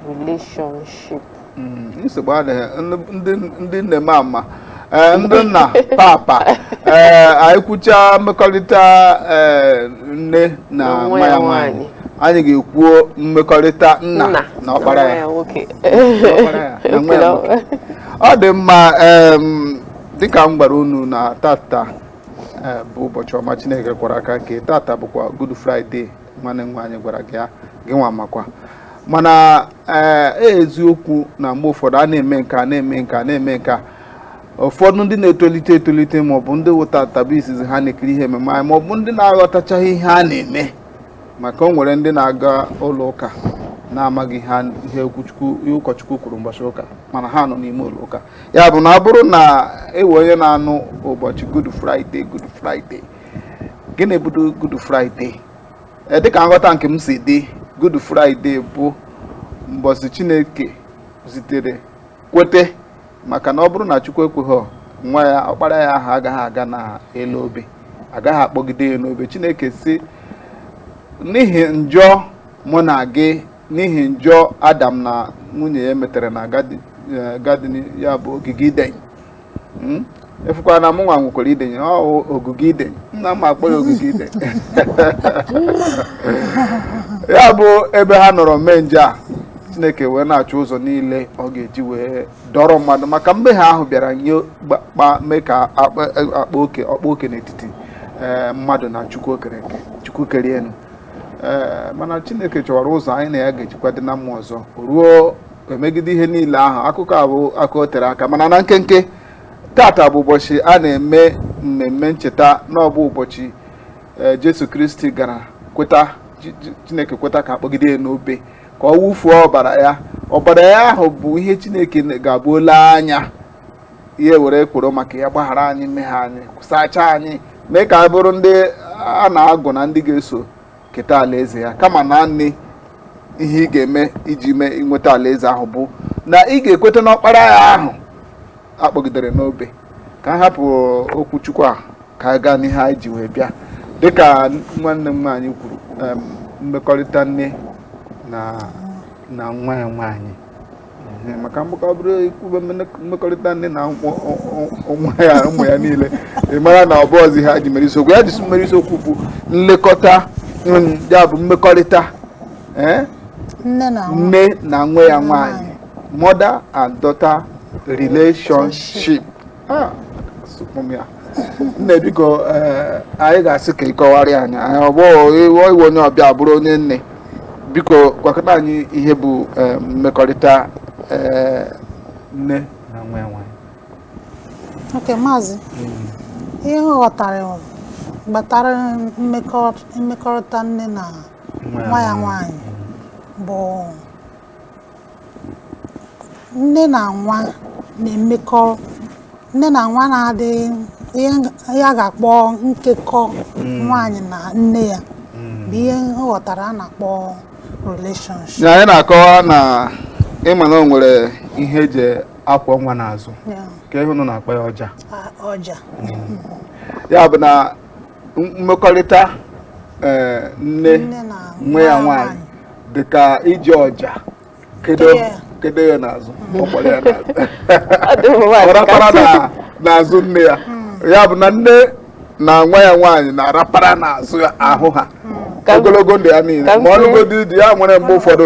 relationship mm, nsogbu adịghị ndị nne m ama eh, ndị nna papa eh, anyị kwucha mmekọrịta eh, nne na nwa ya nwaanyị anyị ga-ekwuo mmekọrịta nna na ọkpara ya ọ dị mma dịka m gwara unu na tata bụ ụbọchị ọma Chineke kwara aka nke tata bụkwa Good Friday nwanne m nwaanyị gwara gị ya gị nwa makwa mana ee eh, eziokwu na mgbe ụfọdụ a na-eme nke a na-eme nke a na-eme nke a ụfọdụ ndị na-etolite etolite maọbụ ndị wụ tata bụ izizi ha na-ekiri ihe ememe anyị maọbụ ndị na-aghọtachaghị ihe a na-eme maka o nwere ndị na-aga ụlọ ụka na-amaghị ihe ụkọchukwu kwuru ụbọchị ụka mana ha nọ n'ime ụlọ ụka ya bụ na ọ bụrụ na e nwee onye na-anụ ụbọchị Good Friday Good Friday gịnị bụ Good Friday eh, dịka nghọta nke m si dị Good Friday bụ mbọsị Chineke zitere kwete maka na ọ bụrụ na Chukwu ekweghị nwa ya ọkpara ya ahụ agaghị aga n'elu obe a gaghị akpọgide ya n'obe Chineke si n'ihi njọ mụ na gị n'ihi njọ Adam na nwunye ya metere na gadin eh, ya bụ ogige Iden hmm? ị fụkwa na mụnwa nwekwara Iden o ogige Iden nna m akpọ ya ogige Iden ya bụ ebe ha nọrọ mee njọ a chineke wee na-achọ ụzọ niile ọ ga-eji wee dọrọ mmadụ maka mmehie ahụ bịara nye kpa mee ka a kpaa oke ọ kpaa oke n'etiti eh, mmadụ na chukwu okike chukwu kere enu eh, mana chineke chọwara ụzọ anyị na ya ga-ejikwa dị na mma ọzọ ruo emegide ihe niile ahụ akụkọ a bụ akụkọ tere aka mana na nkenke tata bụ ụbọchị a na-eme mmemme ncheta na ọ bụ ụbọchị e, Jesu Kristi gara kweta Chineke kweta ka akpọgide ya n'obe ka ọ wụfuo ọbara ya ọbara ya ahụ bụ ihe Chineke ga-abụ o lee anya ya were kworo maka ya gbaghara anyị mmehie anyị sachaa anyị mee ka anyị bụrụ ndị a na-agụ na ndị ga-eso keta alaeze ya kama naanị ihe ị ga-eme iji mee inweta alaeze ahụ bụ na ị ga-ekweta n'ọkpara ya ahụ akpọgidere n'obe ka a hapụ okwu Chukwu a ka a gaa n'ihe anyị ji wee bịa dịka nwanne m nwaanyị kwuru mmekọrịta nne na nwa ya nwaanyị maka mgbakọ ọ bụrụ ikwube mmekọrịta nne na ụmụ ya ụmụ ya niile ị mara na ọ bụzị ha ji mere isiokwu ya jizi mere isiokwu bụ nlekọta ya bụ mmekọrịta eh? nne na nwa ya nwaanyị mother and daughter relationship Ah, sụpụ m ya. nne biko eh, anyị ga-asị ka ị kọwara anyị anyị ọ bụ iwe iwe onye ọbịa bụrụ onye nne biko gwakene anyị ihe bụ eh, mmekọrịta eh, nne na nwa ya nwaanyị okay maazị ihe m ghọtara bụ gbatara mmekọ- mmekọrịta nne na nwa ya nwaanyị bụ nne na nwa na-emekọ nne na nwa na-adị ihe a ga-akpọ nkekọ hmm. nwaanyị na nne ya hmm. bụ ihe m ghọtara a na-akpọ relationship anyị na-akọwa na ị ma na o nwere ihe eji akwọ nwa n'azụ ka ihe unu na-akpọ ya ọja ọja hmm. ya bụ na mmekọrịta eh, nne nwa ya nwaanyị dị ka iji ọja kedo ya n'azụ ọ rapara n'azụ nne ya hmm. ya bụ na nne na nwa ya nwaanyị na-arapara n'azụ ahụ ha hmm. ogologo ndụ ya niile ma ọ lụgodi di ya nwere mgbe ụfọdụ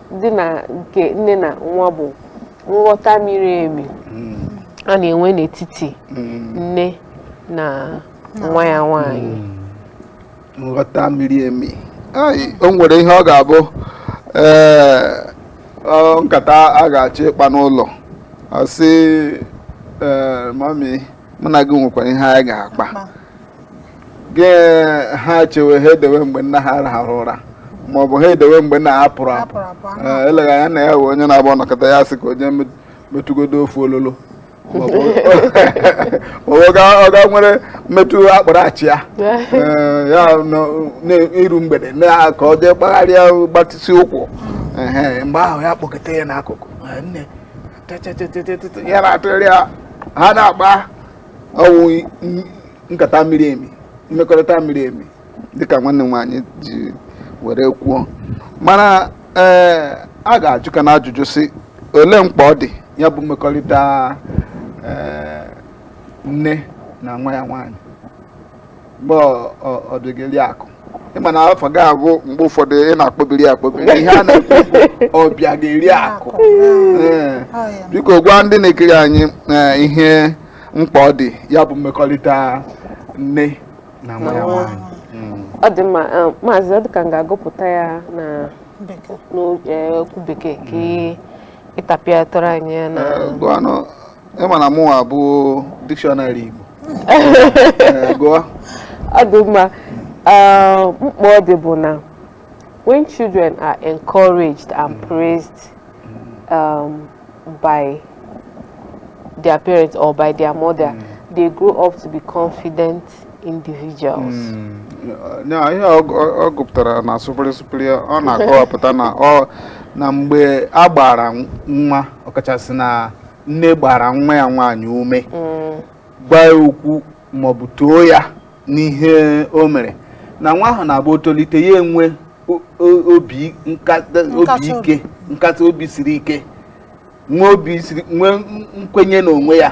dị na nke nne na nwa bụ nghọta miri emi hmm. a na-enwe n'etiti hmm. nne na nwa ya nwanyị hmm. nghọta miri emi o nwere ihe ọ ga-abụ ee nkata a ga-achọ ịkpa n'ụlọ a sị ee mami mụ na gị nwekwara ihe anyị ga-akpa gị ha chewe ha edewe mgbe nna ha rahụrụ ụra ma ọ bụ ha edewe mgbe nna ha pụrụ apụ eleghị anya nna ya wụ onye na-abụ ọ nọkata ya sị ka o jee metụgodo ofu ololo ọ gaa were metụ akpụrụ achịa n'iru mgbede ka o jee kpagharịa gbatịsị ụkwụ mgbe ahụ ya kpọkọta ya n'akụkụ nne ya na-atụgharị ya ha na-akpa ọ wụ nkata miri emi mmekọrịta miri emi dịka nwanne m nwaanyị ji were kwuo mana ee eh, a ga-ajụkwanụ ajụjụ sị olee mkpa ọ dị ya bụ mmekọrịta eh, nne na nwa ya nwaanyị mgbe Ọbịageriakụ ị ma na afa gị a bụ mgbe ụfọdụ ị na-akpọbiri akpọbiri ihe a na-ekwu Ọbịageriakụ biko gwa ndị na-ekiri anyị ihe mkpa ọ dị ya bụ mmekọrịta nne na nwa ya nwaanyị hmm. ọ dị mma eh, maazị ọ dịka m ga-agụpụta ya na n'okwu eh, bekee ka hmm. ị tapịatụrụ anyị ya na eh, ị ma na mụwa bụ dictionary Igbo eh, gụọ ọ dị mma eh, mkpa ọ dị bụ na when children are encouraged and mm. praised um, by their parents or by their mother mm. they grow up to be confident individuals. Mm. ya ihe ọ gụpụtara na sụpịrị sụpịrị ọ na-akọwapụta na na mgbe a gbara nwa ọkachasị na nne gbara nwa ya nwaanyị ume mm. gwa ya okwu maọbụ too ya n'ihe o mere na nwa ahụ na-abụ o tolite ya enwee obi ike nkata obi siri ike nwee obi siri nwee nkwenye n'onwe ya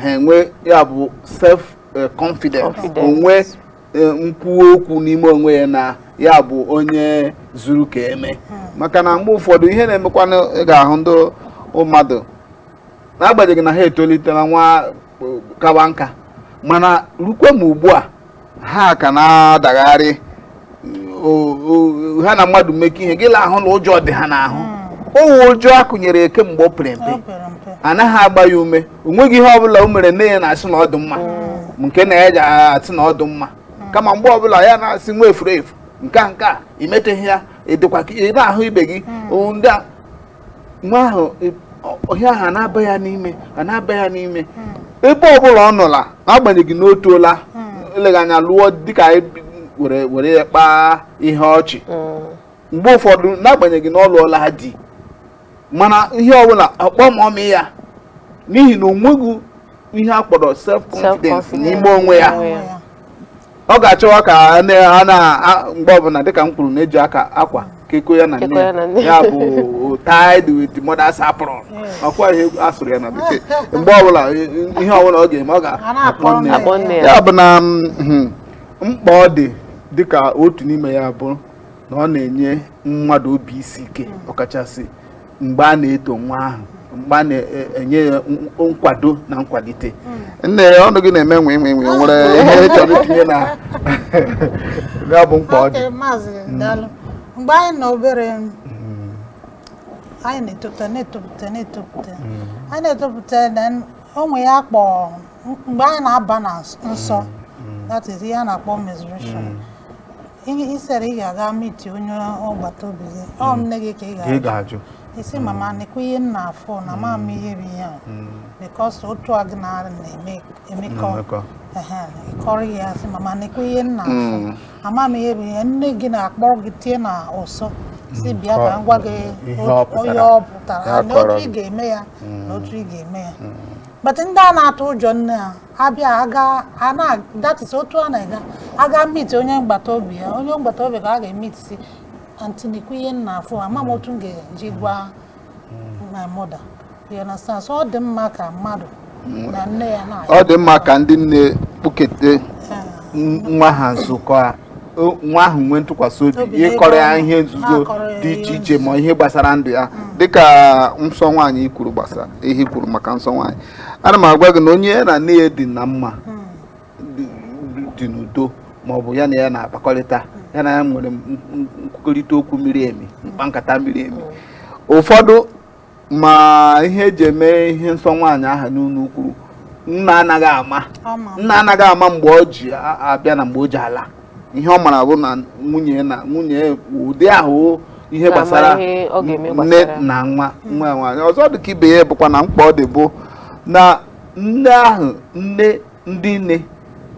hmm. nwee ya bụ self eh, confidence onwe e, nkwuwa okwu n'ime onwe ya na ya bụ onye zuru ka eme hmm. maka na mgbe ụfọdụ ihe na-emekwa na ị ga-ahụ ndị mmadụ n'agbanyeghị na ha etolitela nwa kawa nka mana rukwe ma ugbu a ha ka na-adagharị ha na mmadụ mekọọ ihe gị la-ahụ na ụjọ dị ha n'ahụ hmm. ọ wụ ụjọ a kụnyere kemgbe ọ pere mpe anaghị agba ya ume o nweghị ihe ọbụla o mere nne ya na-asị na ọ dị mma nke nna ya ji asị na ọ dị mma kama mgbe ọbụla ya na-asị nwa furu efu nke a nke a i meteghị ya ị dịkwa ka ị na-ahụ ibe gị o, ndị a nwa ahụ ị- ọ- ihe ahụ a na-aba ya n'ime a na-aba ya n'ime ebe ọbụla ọ nọla n'agbanyeghị na o toola eleghị anya lụọ di ka anyị bi- were were ya kpaa ihe ọchị mgbe ụfọdụ n'agbanyeghị na ọ lụọla di mana ihe ọbụla ọ kpọọ mummy ya n'ihi na o nweghị ihe a kpọrọ self confidence n'ime onwe ya ọ ga-achọwa ka a na mgbe ọbụla dịka m kwuru na e ji aka akwa kekọọ ya na nne ya bụ tied with mother's apron ọ kwa ihe a sụrụ ya na bekee mgbe ọbụla ihe ọbụla ọ ga-eme ọ ga-akpọ nne ya ya bụ na mkpa ọ dị dịka otu n'ime ya bụ na ọ na-enye mmadụ obi isi ike ọkachasị mgbe a na-eto nwa ahụ mgbe a na-enye ya nkwado na nkwalite hmm. nne ya ọnụ gị na-eme nwe nwe nwe nwere ihe ị chọrọ itinye na ya bụ mkpa ọ dị hmm. mgbe anyị nọ obere hmm. anyị na-etopụta na-etopụta na-etopụta anyị na-etopụta na onwe ya kpọ mgbe anyị na-aba na nsọ that is ihe a na-akpọ menstruation Instead ị ga-aga meet onye agbata obi gị ọ hmm. nne gị ka ị ga-ajụ ga-ajụ. ị sị hmm. mama nekwa ihe m na-afụ na m ama ihe bụ ihe a hmm. because otu a gị na ya na-emekọ ị kọrọ ya sị mama nekwa ihe m na-afụ ama m ihe bụ ihe nne gị na-akpọrọ gị tie n'ụsọ sị bịa ka m gwa gị ihe ọ pụtara na otu ị ga-eme ya na otu ị ga-eme ya but ndị a na-atụ ụjọ nne ha ha bịa ha gaa ha na that is otu a na-aga ha gaa meet onye mgbata obi ya onye mgbata obi ka ọ ga-emeet sị aunty nekwa ihe m na-afụ ama m otu m ga-eji gwa my mother you understand so ọ dị mma ka mmadụ na nne ya na ọ dị mma ka ndị nne kpụkete nwa ha nso ka nwa ahụ nwee ntụkwasị obi ịkọrọ ya ihe nzuzo dị iche iche ma ihe gbasara ndụ ya hmm. dịka nsọ nwaanyị i kwuru gbasara ihe i kwuru maka nsọ nwaanyị ana m agwa gị na onye ya na nne ya dị na mma hmm. dị n'udo ma ọ bụ ya na ya na-akpakọrịta ya na ya nwere nkwukọrịta okwu miri emi mkpa nkata miri emi hmm. ụfọdụ ma ihe e ji eme ihe nsọ nwaanyị ahụ unu kwuru nna anaghị ama nna anaghị ama mgbe o ji abịa na mgbe o ji ala ihe ọ mara bụ na nwunye na nwunye ụdị ahụ ihe gbasara nne na nwa nwa nwaanyị ọzọ dị ka ibe ya bụkwa na mkpa ọ dị bụ na nne ahụ nne ndị nne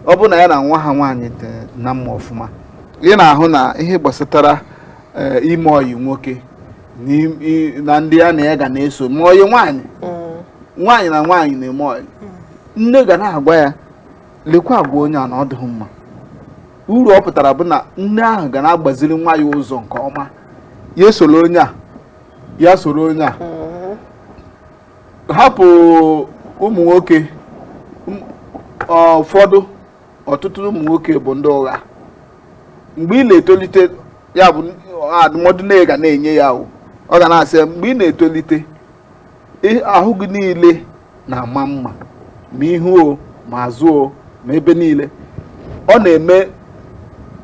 ọ bụrụ na ya na nwa ha nwaanyị dị na mma ọfụma ị na-ahụ na ihe gbasatara eh, ime ọyị nwoke na ndị ya na ya ga na-eso ma ọyị nwaanyị mm. nwaanyị na nwaanyị na-eme ọyị mm. nne ga na-agwa ya lekwa agwa onye a na ọ dịghị mma uru ọ pụtara bụ na nne ahụ ga na-agbaziri nwa ya ụzọ nke ọma ya esola onye a ya soro onye a mm-hmm. hapụ ụmụ nwoke ụfọdụ ọtụtụ ụmụ nwoke bụ ndị ụgha mgbe ị na-etolite ya bụ adụmọdụ nne ga na-enye ya o ọ ga na-asị mgbe ị na-etolite ahụ gị niile na-ama mma ma ihu o ma azụ o ma ebe niile ọ na-eme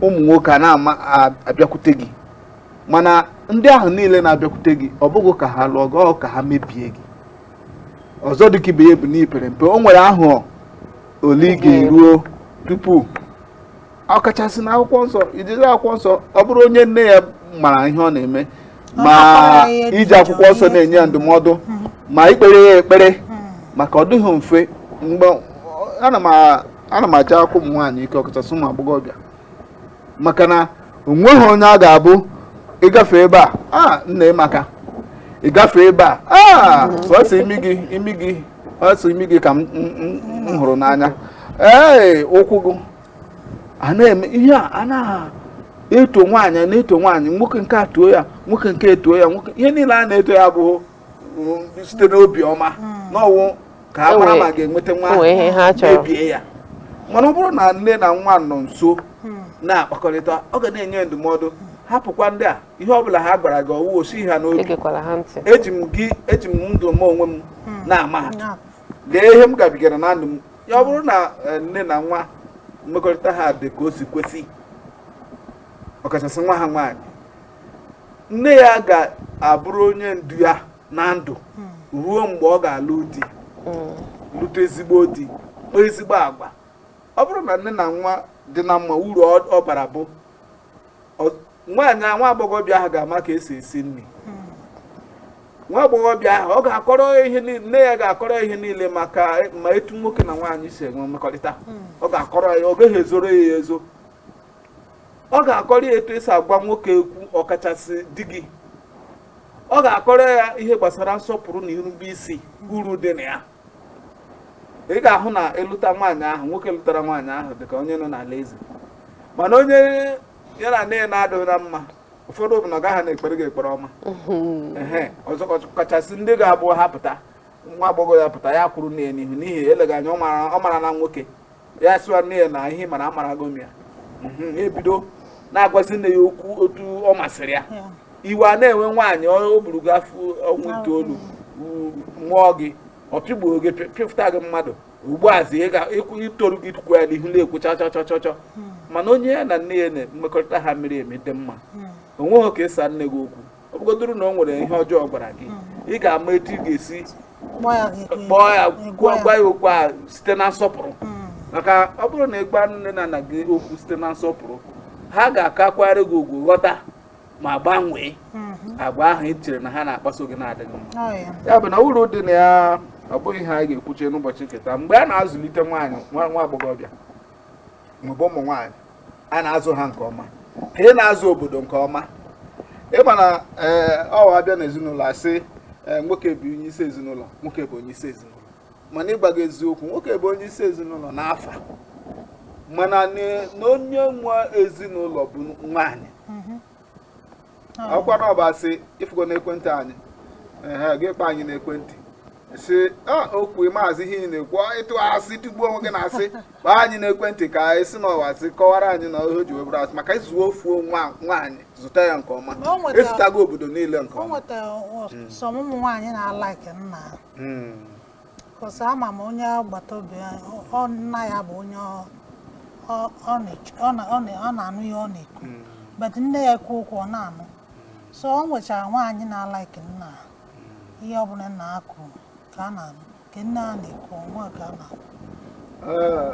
ụmụ nwoke a na-ama abịakwute gị mana ndị ahụ niile na-abịakwute gị ọ bụghị ka ha lụọ gị ọ ka ha mebie gị ọzọ dịka ibe ya bụ na i pere mpe o nwere ahọ ole ị ga-eruo tupu ọkachasị na akwụkwọ nsọ ijiri akwụkwọ nsọ ọ bụrụ onye nne ya mara ihe ọ na-eme ma iji akwụkwọ nsọ na-enye ya ndụmọdụ hmm. ma ikpere ya ekpere hmm. maka ọ dịghị mfe mgbe ana m ajakwu ụmụ nwaanyị ike ọkachasị ụmụ agbọghọbịa maka na onweghị onye a ga-abụ ị gafe ebe a a nne ị maka ị gafe ebe a a sọsọ imi gị imi gị sọsọ imi gị ka m m- m- m hụrụ n'anya ee ụkwụ gị a na-eme ihe a a na-eto nwaanyị a na-eto nwaanyị nwoke nke a too ya nwoke nke etuo ya nwoke ihe niile a na-eto ya bụ site n'obi ọma hmm. na ọ wụ ka a mara ma a ga-enweta nwa mebie ya mana ọ bụrụ na nne na nwa nọ nso hmm. na-akpakọrịta ọ ga na-enye ndụmọdụ hapụkwa ndị a ihe ọ bụla ha gwara gị ọ wụ o si ha n'obi eji m gị eji m ndụ m onwe m hmm. na-ama ha lee ihe m gabigara na ndụ m ya ọ bụrụ na eh, nne na nwa mmekọrịta ha dị ka o si kwesị ọkachasị nwa ha nwaanyị nne ya ga-abụrụ onye ndu ya na ndụ ruo mgbe ọ ga-alụ di lụta ezigbo di kpaa ezigbo agwa ọ bụrụ na nne na nwa dị na mma uru ọ- ọ bara bụ ọ- nwaanyị a- nwa agbọghọbịa ahụ ga-ama ka e si esi nri nwa agbọghọbịa ahụ ọ ga-akọrọ ya ihe niile nne ya ga-akọrọ ya ihe niile maka ma etu nwoke na nwaanyị si enwe mmekọrịta ọ ga-akọrọ ya ọ gaghị ezoro ya ezo ọ ga-akọrọ ya etu e si agwa nwoke okwu ọkachasị di gị ọ ga-akọrọ ya ihe gbasara nsọpụrụ na irube isi uru dị na ya ị ga-ahụ na ị lụta nwaanyị ahụ nwoke lụtara nwaanyị ahụ dịka onye nọ n'ala eze mana onye ya na nne ya na-adịghị na mma ụfọdụ bụ na ọ gaghị na-ekpere gị ekpere ọma ọzọ kachasị ndị ga-abụ ha pụta nwa agbọghọ ya pụta ya kwuru nne ya n'ihu n'ihi eleghị anya ọ marana nwoke ya sịwa nne ya na ihe ị mara amarago m ya mhm, ebido na-agwazi nne ya okwu otu ọ masịrị ya iwe ana-ewe nwaanyị o buru gị afọ ọnwa itoolu mụọ gị ọ pịgbuo gị pịfụta gị mmadụ ugbu a zi i toru gị tukwu ya n'ihu na-ekwu chọchọchọchọ hmm. mana onye ya na nne ya na mmekọrịta ha miri emi dị mma hmm. onweghị ka ịsa nne gị okwu ọ bụgodoro na o nwere ihe ọjọọ ọ gwara gị ị ga-ama etu ị ga-esi kpọọ ya gị- kpọọ ya gị- gwa gwa ya okwu a site na nsọpụrụ Mm. maka ọ bụrụ na ị gwa nne na nna gị okwu site na nsọpụrụ ha ga-akakwara gị ugwu ghọta ma gbanwee Mhm. agwa ahụ ị chere na ha na-akpaso gị na-adịghị mma Ọ ya. ya bụ na uru dị na ya ọ bụghị ihe anyị ga-ekwuche n'ụbọchị nke taa mgbe a na-azụlite nwaanyị nwa nwa agbọghọbịa maọbụ ụmụ nwaanyị a na-azụ ha nke ọma ka ị na-azụ obodo nke ọma ị ma na eh, ọ wụ a bịa na ezinụlọ a sị eh, nwoke bụ onye isi ezinụlọ nwoke bụ onye isi ezinụlọ mana ịgwa gị eziokwu nwoke bụ onye isi ezinụlọ n'afa mana na onye nwe ezinụlọ bụ nwaanyị i kwukwa na ọ bụ asị ị fụgo n'ekwentị anyị ehe gị kpọọ anyị n'ekwentị sị okwu maazị ihe ị na-ekwu ị tụ asị tụgbuo onwe gị n'asị kpọọ anyị n'ekwentị ka ị sị na ọ bụ asị kọwara anyị na ihe o ji wee bụrụ asị maka ị zụọ ofu nwaanyị zụta ya nke ọma ị zụtago obodo niile nke ọma ụmụ nwaanyị na-alaiki nna hmm. Cos ama m onye agbata obi ọ nna ya bụ onye ọ na-anụ ihe ọ na-ekwu hmm. but nne ya ekwu okwu ọ na-anụ so o nwechara nwaanyị na-alaiki nna hmm. ihe ọbụla nna ha kwuru ka a na-anụ nke nne ha na-ekwu ọnwa ka a na-anụ eh,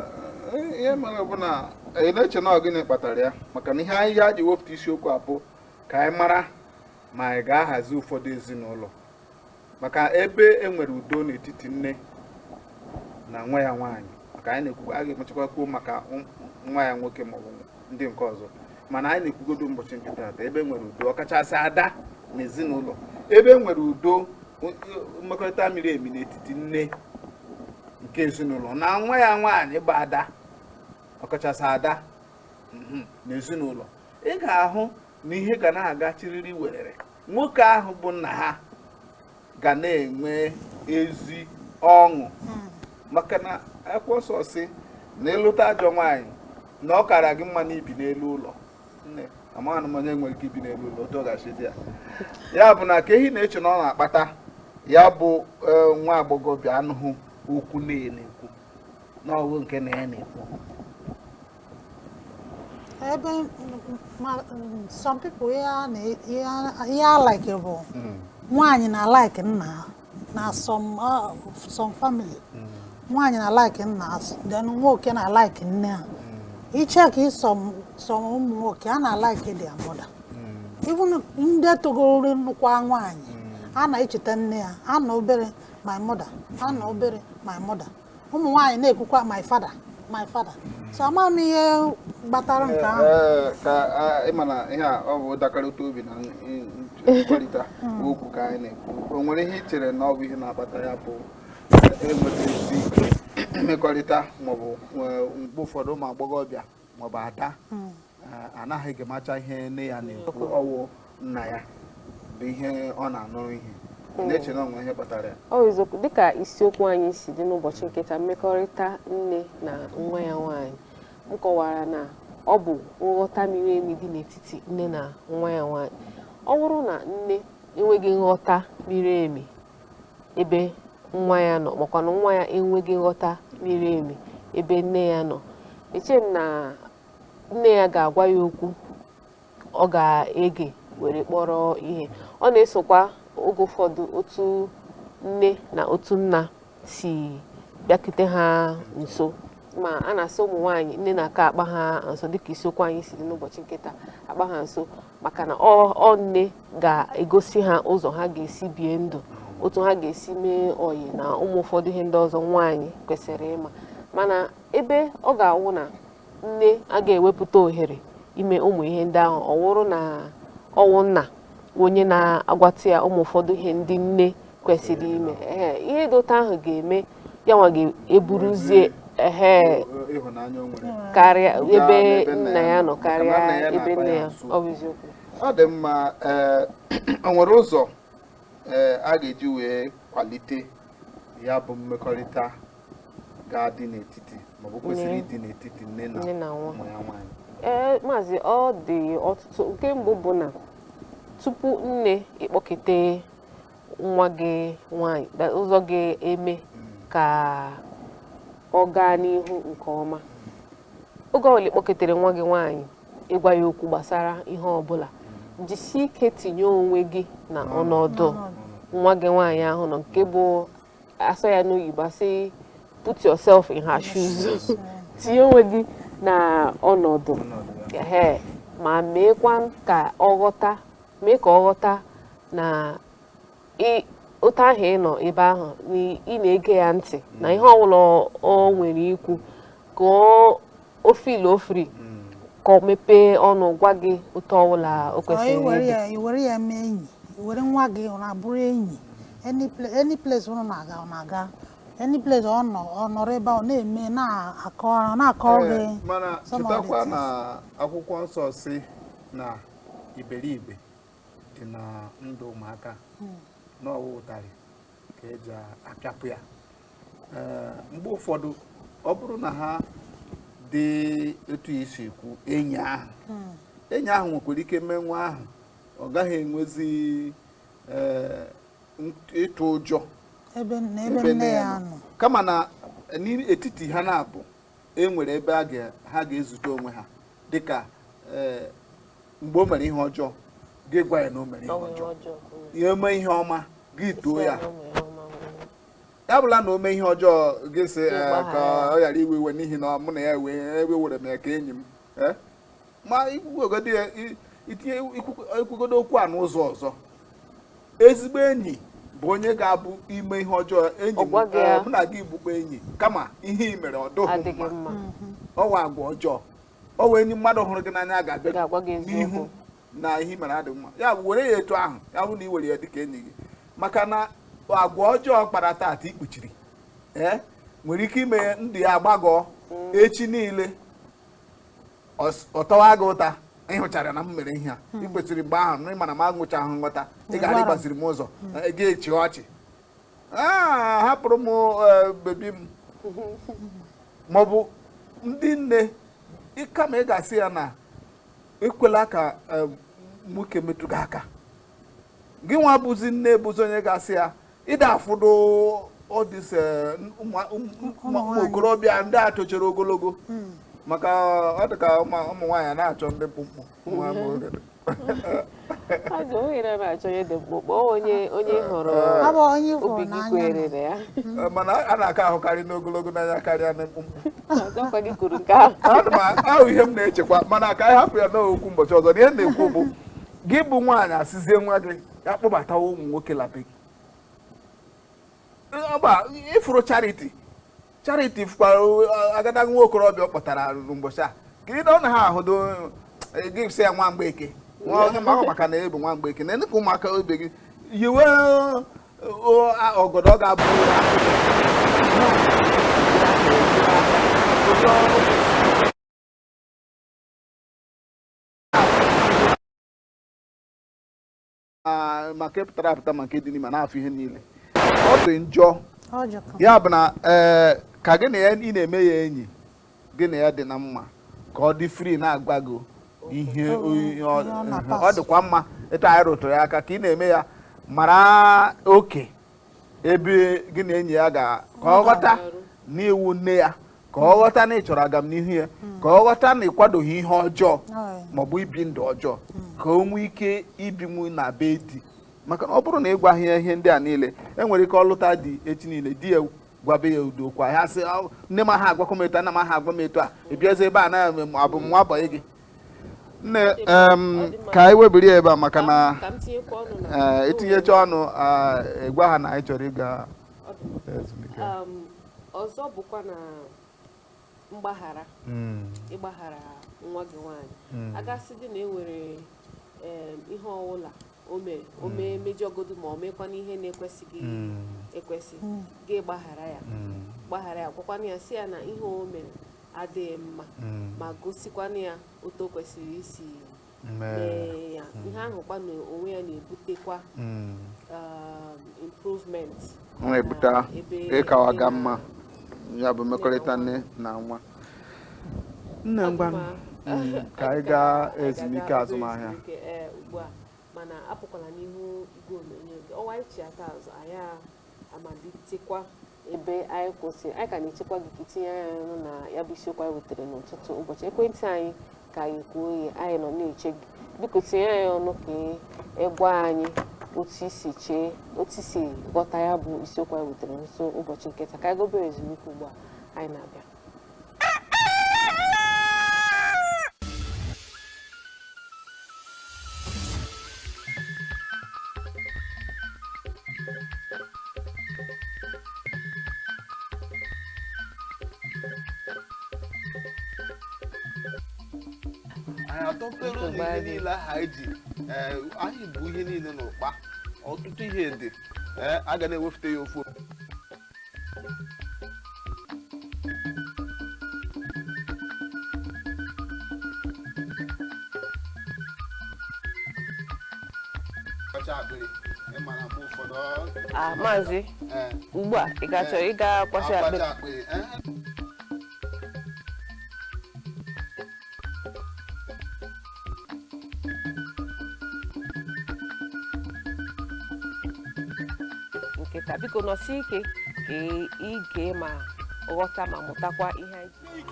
eh, ihe mere bụ na anyị eh, na-eche na gịnị kpatara ya maka na ihe anyị ya ji wepụta isiokwu a bụ ka anyị mara ma anyị ga-ahazi ụfọdụ ezinụlọ maka ebe e nwere udo n'etiti nne na nwa ya nwaanyị ka anyị na-ekwu a ga-emechakwa kwuo maka nwa ya nwoke maọbụ ndị nke ọzọ mana anyị na-ekwugodo ụbọchị nke taata ebe e nwere udo ọkachasị ada n'ezinụlọ ebe e nwere udo mmekọrịta miri emi n'etiti nne nke ezinụlọ na nwa ya nwaanyị bụ ada ọkachasị ada mhm, n'ezinụlọ ị ga-ahụ na ihe ga na-aga chiriri werere nwoke ahụ bụ nna ha ga na-enwe ezi ọṅụ hmm. maka na akwụkwọ nsọ sị na ị lụta ajọ nwaanyị na ọ kara gị mma na i bi n'elu ụlọ nne amaghị m onye nwere ike ibi n'elu ụlọ otu ọ ga-esi dị ya ya bụ na kee ihe ị na-eche na ọ na-akpata ya bụ e, nwa agbọghọbịa anụghị okwu nne ya na-ekwu na ọ wụ nke nna ya na-ekwu ebe some people ihe a like bụ hmm. nwaanyị na like nna na uh, some family hmm. nwaanyị na like nna then nwoke na like nne ha hmm. ị check some ụmụ nwoke a na like their mother even ndị togoro nụkwa nwaanyị a na-echeta nne ya a na obere my mother a na obere my mother ụmụ nwaanyị na-ekwukwa my father my father so ama m ihe kpatara nke ahụ Ee, ka a- ị ma na ihe a ọ bụ ndakọrịta obi na n- n- nkwurịta okwu ka anyị na-ekwu o nwere ihe i chere na ọ bụ ihe na-akpata ya bụ enweta ezi mmekọrịta maọbụ mgbe ụfọdụ ụmụ agbọghọbịa maọbụ ada hmm. eh, anaghị gemacha ihe nne ya na-ekwu ọ wụ nna ya bụ ihe ọ na-anụrụ ihe hmm. na-eche na o nwe ihe kpatara ya ọ eziokwu dịka isiokwu anyị si dị n'ụbọchị nke taa mmekọrịta nne na nwa ya nwaanyị m kọwara na ọ bụ nghọta miri emi dị n'etiti nne na nwa ya nwaanyị ọ bụrụ na nne enweghị nghọta miri emi ebe nwa ya nọ makwa na nwa ya enweghị nghọta miri emi ebe nne ya nọ eche m na nne ya ga-agwa ya okwu ọ ga-ege were kpọrọ ihe ọ na-esokwa oge ụfọdụ otu nne na otu nna si bịakute ha nso ma a na-asị ụmụ nwaanyị nne na-aka akpa ha nso dịka isiokwu anyị si dị n'ụbọchị nke taa akpa ha nso maka na ọ nne ga-egosi ha ụzọ ha ga-esi bie ndụ otu ha ga-esi mee ọyị na ụmụ ụfọdụ ihe ndị ọzọ nwaanyị kwesịrị ịma mana ebe ọ ga-awụ na nne a ga-ewepụta ohere ime ụmụ ihe ndị ahụ ọ wụrụ na ọ wụ nna onye na-agwata ya ụmụ ụfọdụ ihe ndị nne kwesịrị ime ehe ihe dị otu ahụ ga-eme ya nwa ga-eburuzie ehe karịa ebe nna ya nọ karịa ebe nne ya ọ bụ eziokwu ọ dị mma ee o nwere ụzọ ee a ga-eji wee kwalite ya bụ mmekọrịta ga-adị n'etiti maọbụ kwesịrị ịdị n'etiti nne na nwa ya nwaanyị ee maazị ọ dị ọtụtụ nke mbụ bụ na tupu nne ịkpọkete nwa gị nwanyị ụzọ ga-eme ka ọ gaa n'ihu nke ọma oge ọbụla ị kpọketere nwa gị nwaanyị ịgwa ya okwu gbasara ihe ọbụla jisie ike tinye onwe gị na ọnọdụ nwa gị nwaanyị ahụ nọ nke bụ a sụọ ya n'oyibo a sị put yourself in her shoes tinye onwe gị na ọnọdụ ma meekwa ka ọ ghọta mee ka ọ ghọta na otu ahụ ị nọ ebe ahụ na ị na-ege ya ntị na ihe ọbụla o nwere ikwu ka o feel free mm. ka ọ mepee ọnụ gwa gị otu ọbụla o kwesịrị iwere ya mee enyi were nwa gị ọ na-abụrụ enyi any place ọ na-aga any place ọ nọrọ ebe ọ na-eme na-akọrọ gị mana chetakwa na akwụkwọ nsọ sị na iberibe dị na ndụ ụmụaka hmm. na ọ wụ ụtarị ka e ji apịapụ ya eh, mgbe ụfọdụ ọ bụrụ na ha dị etu i si ekwu enyi ahụ hmm. enyi ahụ nwekwara ike mee nwa ahụ ọ gaghị enwezi eh, ịtụ ụjọ ebe nne ya nọ kama na n'etiti ha n'abụọ e nwere ebe a ga- ha ga-ezute onwe ha dịka eh, mgbe o mere ihe ọjọọ gị gwa ya na o mere ihe ọjọọ ya mee ihe ọma gị too ya ya abụla na o mee ihe ọjọọ gị sị eh, ka ọ ghara iwe iwe n'ihi na mụ na ya wee ewere m ya ka enyi m eh, ma ikwugodo ya i- itinye ikwu- ikwugodo okwu a n'ụzọ ọzọ ezigbo enyi bụ onye ga-abụ i mee ihe ọjọọ enyi Ọ m gwaghị ya. eh, mụ na gị bụkwa enyi kama ihe i mere ọ dụghị adịghị mma mma ọ wụ agwa ọjọọ ọ wụ enyi mmadụ hụrụ gị n'anya ga-abịa ga-agwa gị eziokwu n'ihu na ihe i mere adịghị mma ya bụ were ya etu ahụ ya bụ na i were ya dịka enyi gị maka na agwa ọjọọ kpara taata i kpuchiri ee nwere ike ime ndụ ya agbagọọ echi niile ọ tawa gị ụta ị hụchara na m mere ihe a hmm. ị kwesịrị mgbe ahụ na ị mara m enwechahụ nghọta ị gaara ịgbaziri m ụzọ hmm. eh, gị achịa ọchị ah, hapụrụ m eh, bebi m maọbụ ndị nne kama ị ga-asị ya na ekwela ka eh, nwoke metụ gị aka gị nwa bụzi nne bụzi onye ga-asị ya ị da-afụdo ọdịs eh, ụmụ okorobịa ndị a tochara ogologo hmm. maka ọ dị ka ụmụ nwaanyị anaghị achọ ndị mkpụmkpụ azụ ohere na-achọ onye dị mkpụmkpụ onye onye eh, hụrụ eh, obi gị kwere na ya mana a na-aka ahụkarị ndị ogologo n'anya karịa ndị mkpụmkpụ ahụ ihe m na-echekwa mana ka anyị hapụ ya na ọ wụ okwu ụbọchị ọzọ na ihe na-ekwu bụ gị bụ nwaanyị asịzie nwa gị ya kpọbatawa ụmụ nwoke la be gị Ọ bụ a, ị fụrụ Charity Charity fụkwara uh, agadaga nwa okorobịa ọ kpọtara n'ụbọchị a ka ị dọọ na ha ahụdo eh, gị sị ya nwa mgbeke nwa onye maka maka na ị bụ nwa mgbeke na ndị ka ụmụaka ibe gị yiwe uh, uh, a- ọgọdọ ọ ga-abụ ma nke pụtara apụta ma nke dị n'ime na-afụ ihe niile ọ dị njọ ya bụ na ee eh, ka gị na ya ị na-eme ya enyi gị na ya dị na mma ka ọ dị free na-agwa gị ihe ọ dịkwa mma etu anyị rụtụrụ ya aka ka ị na-eme ya mara oke ebe gị na enyi ya ga ka ọ ghọta na ị wụ nne ya ka ọ ghọta na ị chọrọ agamnihu ya hmm. ka ọ ghọta na ị kwadoghị ihe ọjọọ maọbụ ibi ndụ ọjọọ hmm. ka o nwee ike ibinwu na be di maka na ọ bụrụ na ị gwaghị ya ihe ndị a niile e nwere ike ọ lụta di echi niile di ya gwabe ya ụdị okwu a ya sị nne m aha agwakọ m etu a nna m aha agwa m etu a ị bịazi ebe a na abụ m nwa bọyị gị nne ka anyị webiri ya ebe a maka na i tinyecha ọnụ ị gwa ha na anyị chọrọ ịga ezumike ọzọ bụkwa na mgbaghara hmm. ịgbaghara nwa gị nwaanyị hmm. a ga-asịdị na e nwere ihe ọwụla o mere o hmm. mee mejọgodu ma o meekwana ihe na-ekwesịghị ekwesị gị gbaghara ya gbaghara ya gwakwana ya sị ya na ihe o mere adịghị mma mm. ma gosikwana ya otu o kwesịrị isi mee ya mm. ihe ahụ kwa na onwe ya na-ebutekwa mm. um, improvement na-ebute ịkawaga mma ya bụ mmekọrịta nne na nwa nne ngwa ka anyị gaa ezumike azụmahịa ugbu a, mana apụkwala n'ihu igwe onyonyo ọwa anyị chighata azụ anyị amalitekwa ebe anyị kwụsịrị anyị ka na-echekwa gị ka i tinye anyị ọnụ na ya bụ isiokwu anyị wetara n'ụtụtụ ụbọchị ekwentị anyị ka anyị kwuo oye anyị nọ na-eche gị biko tinye anyị ọnụ ka ị gwa anyị otu i si chee otu i si ghọta ya bụ isiokwu anyị wetara n'ụtụtụ ụbọchị nke taa ka anyị gaa obere ezumike ugbu a anyị na-abịa atọpere ụlọ ihe niile aha anyị ji anyị bụ ihe niile n'ụkpa ọtụtụ ihe dị a ga na-ewepụta ya ofu Ah, maazị eh. ugbu a ị ga-achọ eh. ịga kwasa akpịrị eh. kịta biko nọsie ike ka ị- ị gee ma ghọta ma mụtakwa ihe anyị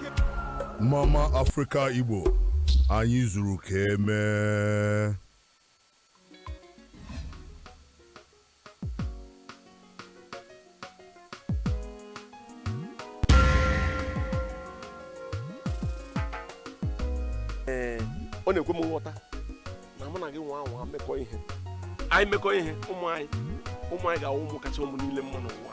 Mama Africa Igbo, anyị zuru ka emee. ee ọ na-ekwe m nghọta na mụ na gị nwa anwa mekọ ihe anyị mekọ ihe ụmụ anyị ụmụ anyị ga-awụ ụmụ kacha ụmụ niile mma n'ụwa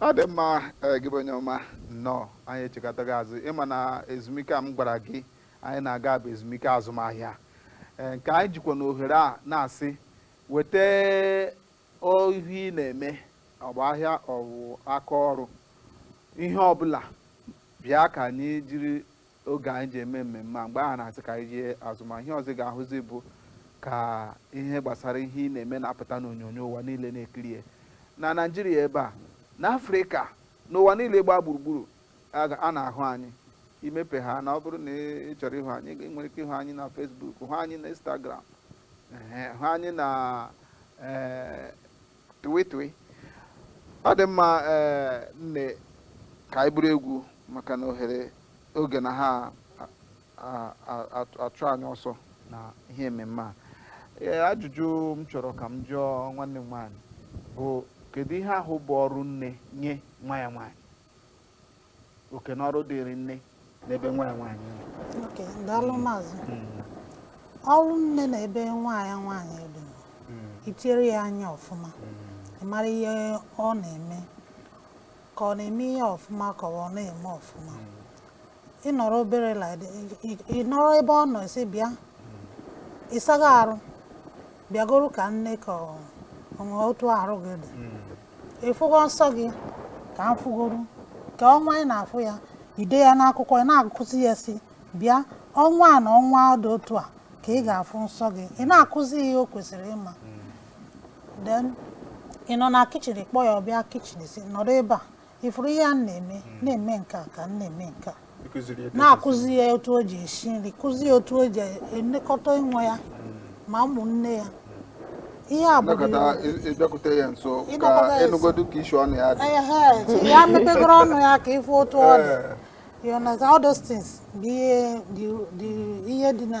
ọ dị mma eh, gị bụ onye ọma nnọọ anyị echighatago azụ ị ma na ezumike a m gwara gị anyị na-aga bụ ezumike azụmahịa Eh, nke anyị jikwa n'ohere a na-asị weta ihe ị na-eme ọ bụ ahịa ọ bụ aka ọrụ ihe ọbụla bịa ka anyị jiri oge anyị ji eme mmemme a mgbe ahụ a na-asị ka anyị jee azụmahịa ọzọ ị ga-ahụzi bụ ka ihe gbasara ihe ị na-eme na-apụta n'onyonyo ụwa niile na-ekiri ya na naijiria ebe a na afrịka n'ụwa niile gbaa gburugburu a na-ahụ anyị imepe ha na ọ bụrụ na ị chọrọ ịhụ anyị ị nwere ike ịhụ anyị na fesbuk hụ anyị na instagram hụ anyị na eh, Tụwe tụwe. Ọ dị mma ee eh, nne ka anyị buru egwu maka na ohere oge na ha achụ anyị ọsọ na ihe ememme a. Ee eh, ajụjụ m chọrọ ka m jụọ nwanne m nwaanyị bụ kedu ihe ahụ bụ ọrụ nne nye nwa ya nwaanyị? oke na ọrụ dịrị nne n'ebe nwa ya nwaanyị nọ okay daalụ maazị ọrụ nne na ebe nwa ya nwaanyị dị wụ itiere ya anya ọfụma ị mara ihe ọ na-eme ka ọ na-eme ihe ọfụma ka ọ na-eme ọfụma ị nọrọ obere like ị- ị- ị nọrọ ebe ọ nọ sị bịa ịsago arụ bịagoro ka m nee ka ọ- ọ nwee otu arụ gị dị ịfụgo nsọ gị ka m fụgoro ka ọnwa ị na-afụ ya i dee ya n'akwụkwọ ị na-akụzi ya sị bịa ọnwa a na ọnwa dị otu a ka ị ga-afụ nsọ gị ị na-akụzi ya ihe o kwesịrị ịma then ị nọ na kichin kpọọ ya ọ bịa kichin sị nọrọ ebe a ịfụrụ ihe a na-eme hmm. na-eme nke a ka m na-eme nke a na-akụzi ya otu o ji esi nri kụzi ya otu o ji elekọta onwe ya hmm. ma ụmụnne ya ihe a bụ ịbịakwute ya nso ka ịnụgodu ka isi ọnụ ya dị ya mepegoro ọnụ ya ka ịfụ otu ọ dị eh. you understand all those things bụ ihe dị na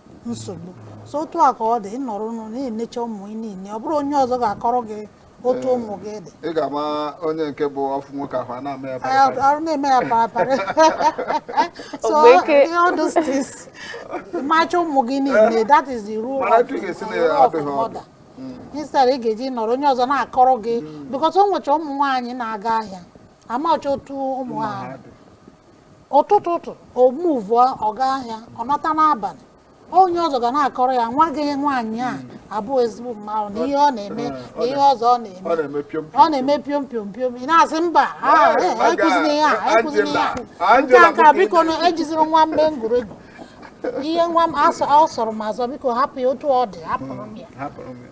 nsogbu so otu a ka ọ dị ịnọrọ ụnọ na-enecha ụmụ gị niile ọ bụrọ onye ọzọ ga-akọrọ gị otu ụmụ gị dị ị ga-ama onye nke bụ ọ fụ nwoke ahụ a na-ama ya Anyị bara bara. arụ na-eme ya parapara so Ogbeke. all those things macha ụmụ gị niile that is the role Mana of etu ị ga-esi the role of na-adụ ha ọdụ. mother. instead ị ga-eji nọrọ onye ọzọ na-akọrọ gị because o nwecha ụmụ nwaanyị na-aga ahịa amacha otu ụmụ ha dị. ụtụtụ ụtụ o muvụọ ọ gaa ahịa ọ nọta n'abalị onye ọzọ ga na-akọrọ ya nwa gị nwaanyị a abụ ezigbo mmadụ na ihe ọ na-eme na ihe ọzọ ọ na-eme ọ na-eme piom ọ na-eme piom piom piom ị na-asị mba ah, eh, ekwuzina ihe a ekwuzina ihe a nke a nke a biko na ejizirọ nwa m eme ngwuregwu ihe nwa m asọ- ọ sọrọ m asọ biko hapụ ya otu ọ dị hapụrụ m ya hapụrụ m ya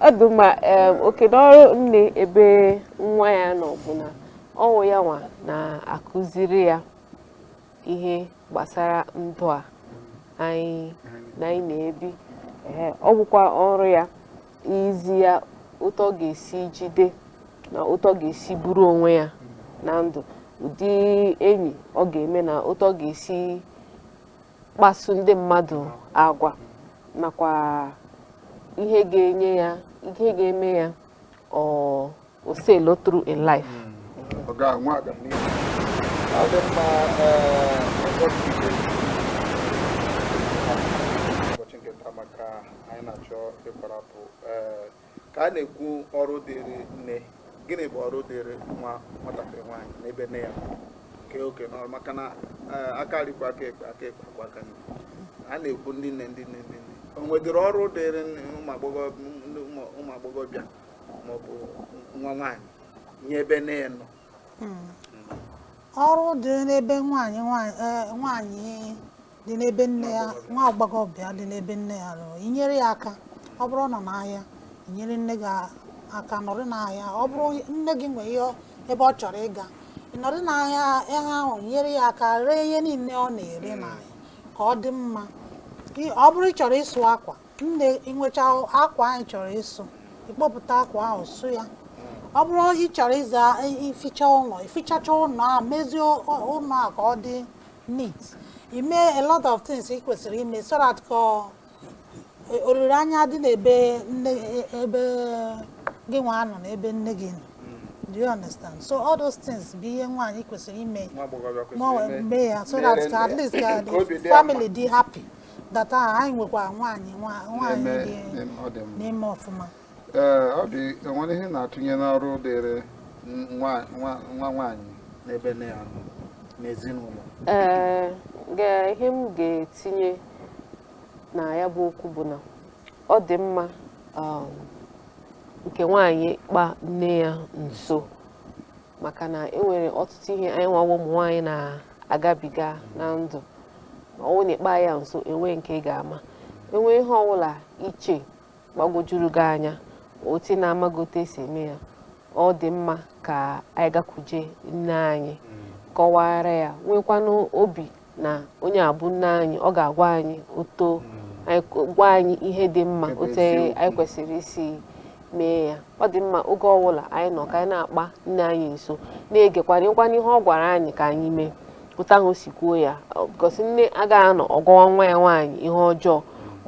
ọ dị mma oke n'ọrụ nne ebe nwa ya nọ bụ na ọ wụ ya nwa na-akụziri ya ihe gbasara ndụ a anyị na anyị na-ebi ọ bụkwa ọrụ ya izi ya otu ọ ga-esi jide na otu ọ ga-esi buru onwe ya na ndụ ụdị enyi ọ ga-eme na otu ọ ga-esi kpasu ndị mmadụ agwa nakwa ihe ga-enye ya ihe ga-eme ya o sailụọ through in life ka a na-ekwu ọrụ dịrị nne gịnị bụ ọrụ dịrị nwa nwatakịrị nwaanyị n'ebe nne ya kee oke n'ọrụ maka na eh, aka nri kwọọ aka ekpe aka ekpe akwọọ aka nri a na-ekwu ndị nne ndị nne ndị nne o nwedịrị ọrụ dịrị nne- ụmụ agbọghọ- ndị ụmụ- ụmụ agbọghọbịa maọbụ nwa nwaanyị nye ebe nne ya nọ ọrụ dị n'ebe nwaanyị nwaanyị eh, nwaanyị dị n'ebe nne ya nwa agbọghọbịa dị n'ebe nne ya nọ inyere ya aka ọ bụrụ ọ nọ n'ahịa inyere nne gị aka nọrị n'ahịa ọ bụrụ nne gị nwere ebe ọ chọrọ ịga nọrị n'ahịa ahụ nyere ya aka ree ihe niile ọ na-ere hmm. n'ahịa ka ọ dị mma ọ bụrụ ị chọrọ ịsụ akwa nne ịnwecha akwa anyị chọrọ ịsụ ịkpọpụta akwa ahụ sụọ ya hmm. ọ bụrụ ị chọrọ ịza ificha ụlọ i fichachaa ụlọ a mezie ụlọ a ka ọ dị neat ime a lot of things ị kwesịrị ime so that ka ọ- e- olileanya dị n'ebe nne e- ebe gị nwa nọ na ebe nne gị nọ do you understand so all those things bụ ihe nwaanyị kwesịrị ime nwa agbọghọbịa kwesịrị mụọ ime- mee ya so mere that ka at nne. least ka Ka obi dị the ya family dị happy that ah, anyị nwekwa nwaanyị nwa- nwaanyị na-eme dị na-eme ọ dị mma na-eme ọfụma ee ọ dị e nwere ihe ị na-atụnye n'ọrụ dịrị nwa nwa nwa nwaanyị n'ebe nne ya nọ n'ezinụlọ ee ga- ihe m ga-etinye na ya bụ okwu bụ na ọ dị mma um, nke nwaanyị kpa nne ya nso maka na e nwere ọtụtụ ihe anyịnwa bụ ụmụ nwaanyị na-agabiga na ndụ ma ọ bụrụ na ị kpa ya nso enwe nke ị ga-ama e nwee ihe ọbụla ị che gbagwojuru gị anya otu ị na-amaghị otu e si eme ya ọ dị mma ka anyị gakwuje nne anyị kọwaara ya nwekwanụ obi na onye a bụ nne anyị ọ ga-agwa anyị otu gwa anyị ihe dị mma otu anyị kwesịrị isi mee ya ọ dị mma oge ọbụla anyị nọ ka anyị na-akpa nne anyị nso na-egekwanụ kwanụ ihe ọ gwara anyị ka anyị mee otu ahụ o si kwuo ya cos nne agaghị anọ ọ gwawa nwa ya nwaanyị ihe ọjọọ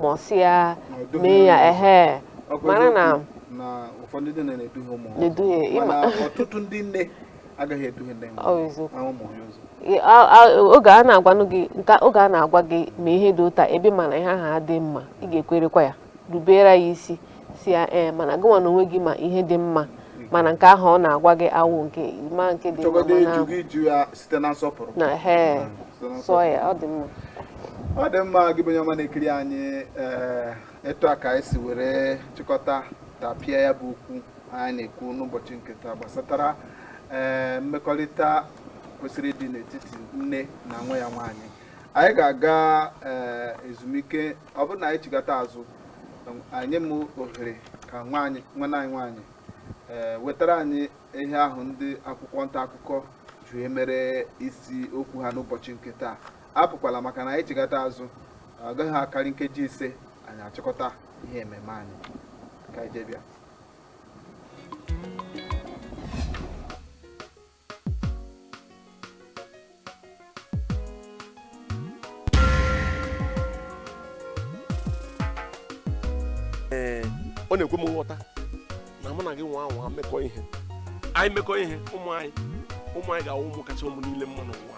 ma ọ sị ya mee ya ehe mara na na ụfọdụ ndị nne na-eduhie ụmụ ha na-eduhie ị ma mana ọtụtụ ndị nne agaghị eduhie ndị Ọ bụ eziokwu. ha ụmụ ha ụzọ Ị- a- a- oge a na-agwanụ gị nke oge a na-agwa gị mee ihe dị otu a ebe ị ma na ihe ahụ adị mma ị ga-ekwerekwa ya rubeere ya isi sị ya ee mana gịnwa na onwe gị ma ihe dị mma mana nke ahụ ọ na-agwa gị awụ nke ma nke dị mma chọgodo mana ịjụ gị jụ ya site na nsọpụrụ na he Site na sụọ ya ọ dị mma ọ dị mma gị bụ onye ọma na-ekiri anyị ee etu a ka anyị si were chịkọta tapịa ya bụ okwu anyị na-ekwu n'ụbọchị nke taa gbasatara ee mmekọrịta kwesịrị ịdị n'etiti nne na nwa ya nwaanyị anyị ga-aga ee ezumike ọ bụrụ na anyị chigata azụ enye m ohere ka nwanne anyị nwaanyị ee wetara anyị ihe ahụ ndị akwụkwọ nta akụkọ ji emere isi okwu ha n'ụbọchị nke taa apụkwala maka na anyị chigata azụ ọ gaghị akarị nkeji ise anyị achịkọta ihe ememe anyị ka anyị jee bịa ee ọ na-ekwe m nghọta na mụ na gị nwaa anwa mekọọ ihe anyị mekọọ ihe ụmụ anyị ụmụ anyị ga-awụ ụmụ kacha ụmụ niile mma n'ụwa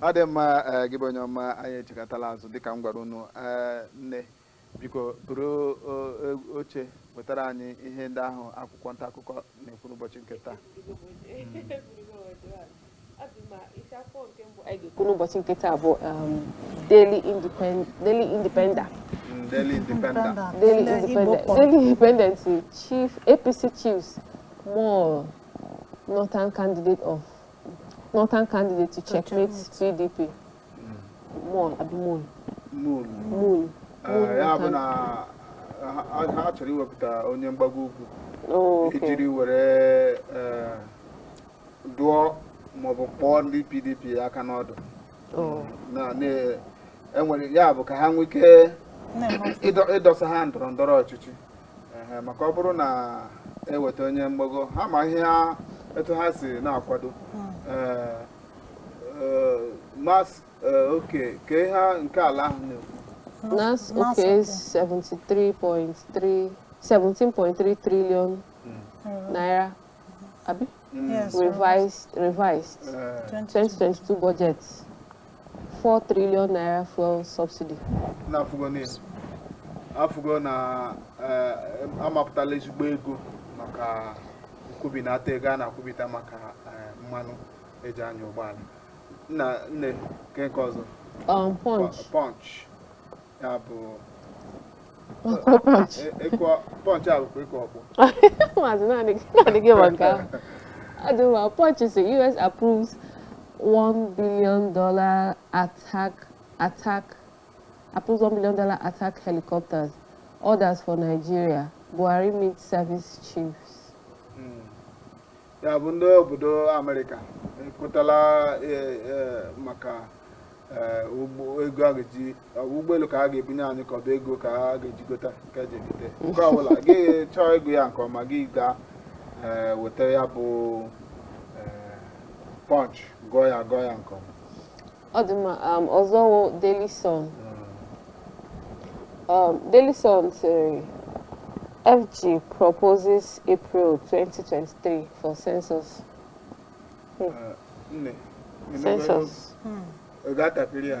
ọ dị mma ee, gị bụ onye ọma anyị echigatala azụ dịka m gwara unu ee, nne biko buru o, e- oche wetara anyị ihe ndị ahụ akwụkwọ nta akụkọ na-ekwu n'ụbọchị nke taa kwuru n'ụbọchị nke taa bụ um, Daily Independ- Daily Independer Mm, Daily Independent Daily Ndị Igbo Independent kpọrọ. Daily Independent Chief APC Chiefs Mull Northern Candidate of Northern candidate to checkmate PDP. Mull abi mull. Mull. Mull. Eh, ya bụ na ha chọrọ iwepụta onye mgbago ugwu oh, ijiri were eh, dụọ maọbụ kpọọ ndị PDP aka n'ọdụ oh. enwere ya bụ ka ha nwee ike ịdọsa ha ndọrọ ndọrọ ọchịchị maka ọ bụrụ na eweta onye mgbago ha ma ihe etu ha si na-akwado hmm. eh, eh, NASS eh, okay ka ihe nke ala ahụ na-ekwu NASS okay 17.3 trillion hmm. naira abi Yes, revised revised 2022 budget 4 trillion naira fuel subsidy na-afụgo na afụgo na eh, amapụtala ezigbo ego maka nkwụbinata ego a na-akwụbita maka eh, mmanụ eji anya ụgbọala nna nne nke nke ọzọ um, punch punch ya bụ maazị naanị gị ma nke ahụ adị mma pọnch si us approves one billion dollar attack attack approves one billion dollar attack helicopters orders for nigeria buhari meet service chiefs. Mm. ya bụ ndị obodo amerịka ekwetala e, e, maka e, ụgbọ ego a ga-eji ọ bụ ụgbọelu ka a ga-ebunye anyị ka ọ bụ ego ka a ga-eji gota ka eji egote nke ọbụla gị chọọ ịgụ ya nke ọma gị gaa ee, weta ya bụ ee, punch gụọ ya gụọ ya nke ọma ọ dị mma um, ọzọ wụ Daily Sun um, Daily Sun sịrị FG proposes April 2023 for census Hmm. Ah, nne, ị nụgo ego? census Ọ ga-atapịrị ya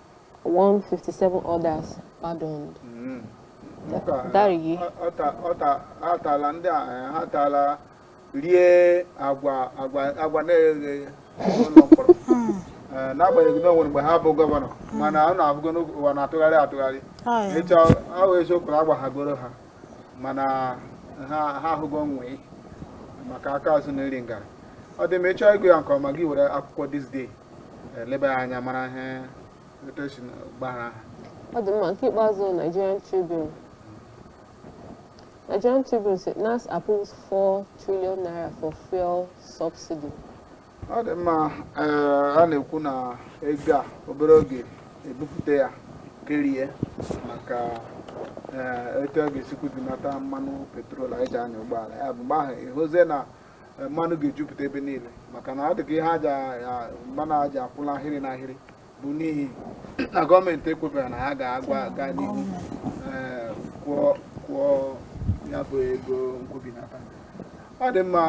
157 others pardoned. Mm. Ka- Dariye. ọ- ọ ta- ọ ta- ha tala ndị a eh, ha tala rie agwa agwa agwa na-eghe eghe n'ụlọ mkpọrọ Eh, n'agbanyeghị na o nwere mgbe ha bụ gọvanọ mana unu ahụgo na ụwa na-atụgharị atụgharị Ọya. ịchọ ọ bụ eziokwu na agbaghagoro ha mana ha ha ahụgo nwii maka aka azụ na iri ngarị ọ dị mma ị chọọ ịgụ ya nke ọma gị were akwụkwọ This Day leba ya anya mara ihe etu e si gbaghara ha ọ dị mma nke ikpeazụ Nigerian Tribune Nigerian Tribune said NASS approves 4 trillion naira for fuel subsidy ọ dị mma eh, a na-ekwu na ego a obere oge e bupụta ya kerie maka eh, etu a ga-esi kwubinata mmanụ petrol anyị ji anya ụgbọala ya bụ mgbe ahụ ị hụzie na eh, mmanụ ga-ejupụta ebe niile maka na ọ dịka ihe e ji mmanụ e ji akwụ n'ahịrị n'ahịrị bụ n'ihi na gọọmenti ekwebero na ha ga-agwa aga n'ihu eh, kwụọ ya bụ ego nkwubinata ọ dị mma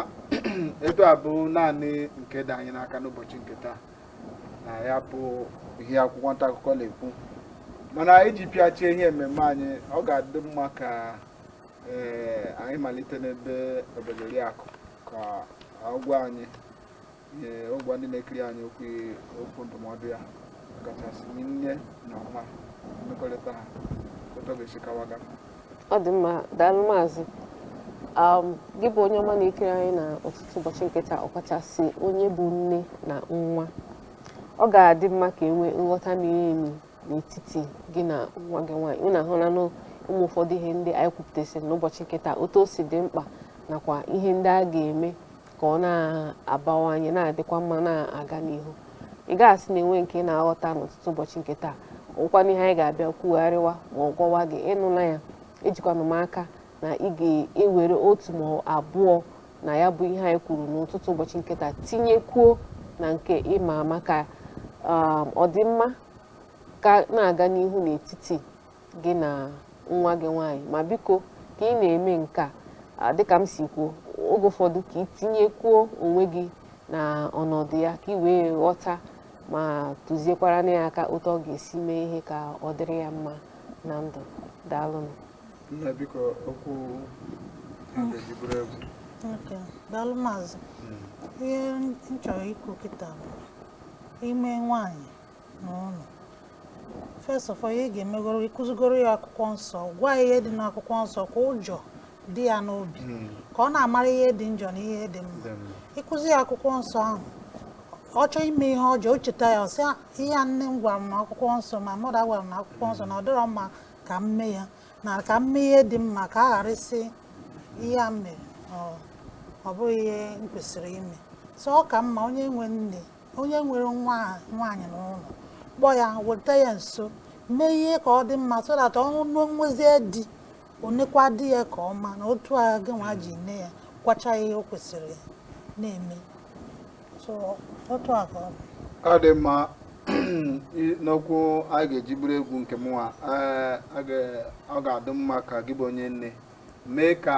etu a bụ naanị nke dị anyị n'aka n'ụbọchị nke taa na ya bụ ihe akwụkwọ nta akụkọ na-ekwu mana iji pịachie ihe mmemme anyị ọ ga-adị mma ka ee anyị malite n'ebe Obiageriakụ ka ọ gwa anyị ee ọ gwa ndị na-ekiri anyị okwu okwu ndụmọdụ ya kachasị nne na nwa mmekọrịta ha otu ọ ga-esi kawaga ọ dị mma daalụ maazị um, gị bụ onye ọma na-ekiri anyị na ụtụtụ ụbọchị nke taa ọkachasị onye bụ nne na nwa ọ ga-adị mma ka e nwee nghọta miri emi n'etiti gị na nwa gị nwaanyị unu ahụla na um ụfọdụ ihe ndị anyị kwupụtasịrị n'ụbọchị nke taa otu o si dị mkpa nakwa ihe ndị a ga-eme ka ọ na-abawanye na-adịkwa mma na-aga n'ihu ị ga-asị na e nwee nke ị na-aghọta n'ụtụtụ ụbọchị nke taa ọ bụkwanụ ihe anyị ga-abịa kwugharịwa ma ọ gwawa gị ị nụla ya ejikwanụ m aka na ị ga-ewere otu ma abụọ na ya bụ ihe anyị kwuru n'ụtụtụ ụbọchị nke taa tinyekwuo na nke ị ma ama ka um, ọdịmma ka na-aga n'ihu n'etiti gị na nwa gị nwaanyị ma biko ka ị na-eme nke a dịka m si kwuo oge ụfọdụ ka ị tinyekwuo onwe gị na ọnọdụ ya ka ị wee ghọta ma tụziekwaranụ ya aka otu ọ ga-esi mee ihe ka ọ dịrị ya mma na ndụ daalụnụ Nna biko okwu e ji buru egwu. Okay, daalụ maazị. Ihe m chọrọ ikwu kịta bụ i nwee nwaanyị n'ụlọ. First of all, ihe ị ga-emegoro ịkụzigoro ya akwụkwọ nsọ, gwa ya ihe dị n'akwụkwọ nsọ ka ụjọ dị ya n'obi, ka ọ na-amara ihe dị njọ na ihe dị mma. Ịkụzi ya akwụkwọ nsọ ahụ, ọ chọọ ime ihe ọjọọ, o cheta ya, ọ sị "Ah, ihe a nne m gwara m n'akwụkwọ nsọ, ma mmadụ gwara m n'akwụkwọ nsọ na ọ dịrọ mma ka m mee ya na ka m mee ihe dị mma ka a ghara ịsị ihe a mere ọ- ọ bụghị ihe m kwesịrị ime so ọ ka mma onye nwe nne onye nwere nwa nwaanyị n'ụlọ kpọọ ya weta ya nso mee ihe ka ọ dị mma so that o nwezie di o nekwa di ya ka ọ ma na otu a gịnwa ji nne ya kwacha ihe o kwesịrị na-eme ọ dị mma n'okwu a ga-eji buru egwu nke mụnwa ọ ga-adị mma ka gị bụ onye nne mee ka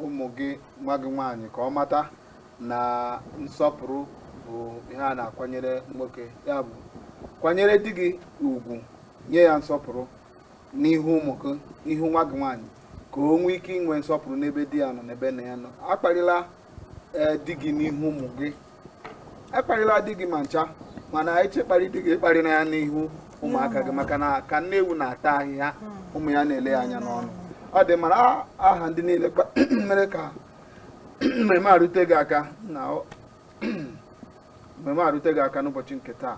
ụmụ gị nwa gị nwaanyị ka ọ mata na nsọpụrụ bụ ihe a na-akwanyere nwoke ya bụ kwanyere di gị ugwu nye ya nsọpụrụ n'ihu ụmụ gị n'ihu nwa gị nwaanyị ka o nwee ike inwe nsọpụrụ n'ebe di ya nọ n'ebe nna ya nọ akparịla ee di gị n'ihu ụmụ gị akparịla di gị ma ncha mana ị chọọ ịkparị di gị akparịna ya n'ihu ụmụaka gị maka na ka nne ewu na-ata ahịhịa ụmụ ya na-ele ya anya n'ọnụ ọ dị mma n'aha ndị niile mere ka mmemme a rute gị aka na mmemme a rute gị aka n'ụbọchị nke taa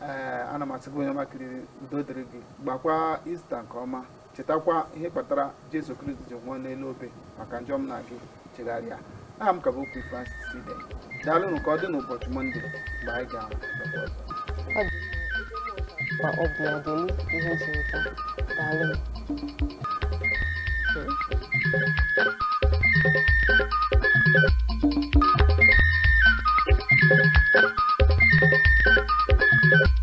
ee ana m asị gị onye ọma kiriri udo dịrị gị gbakwa ista nke ọma chetakwa ihe kpatara Jesu Kristi ji nwụọ n'elu obe maka njọ m na gị chegharịa aha m ka bụ Pope Francis Ibe daalụnụ ka ọ dị n'ụbọchị Mọnde mgbe anyị ga-ahụkwa ọbụla dịlu ihe ji ụtọ daalụ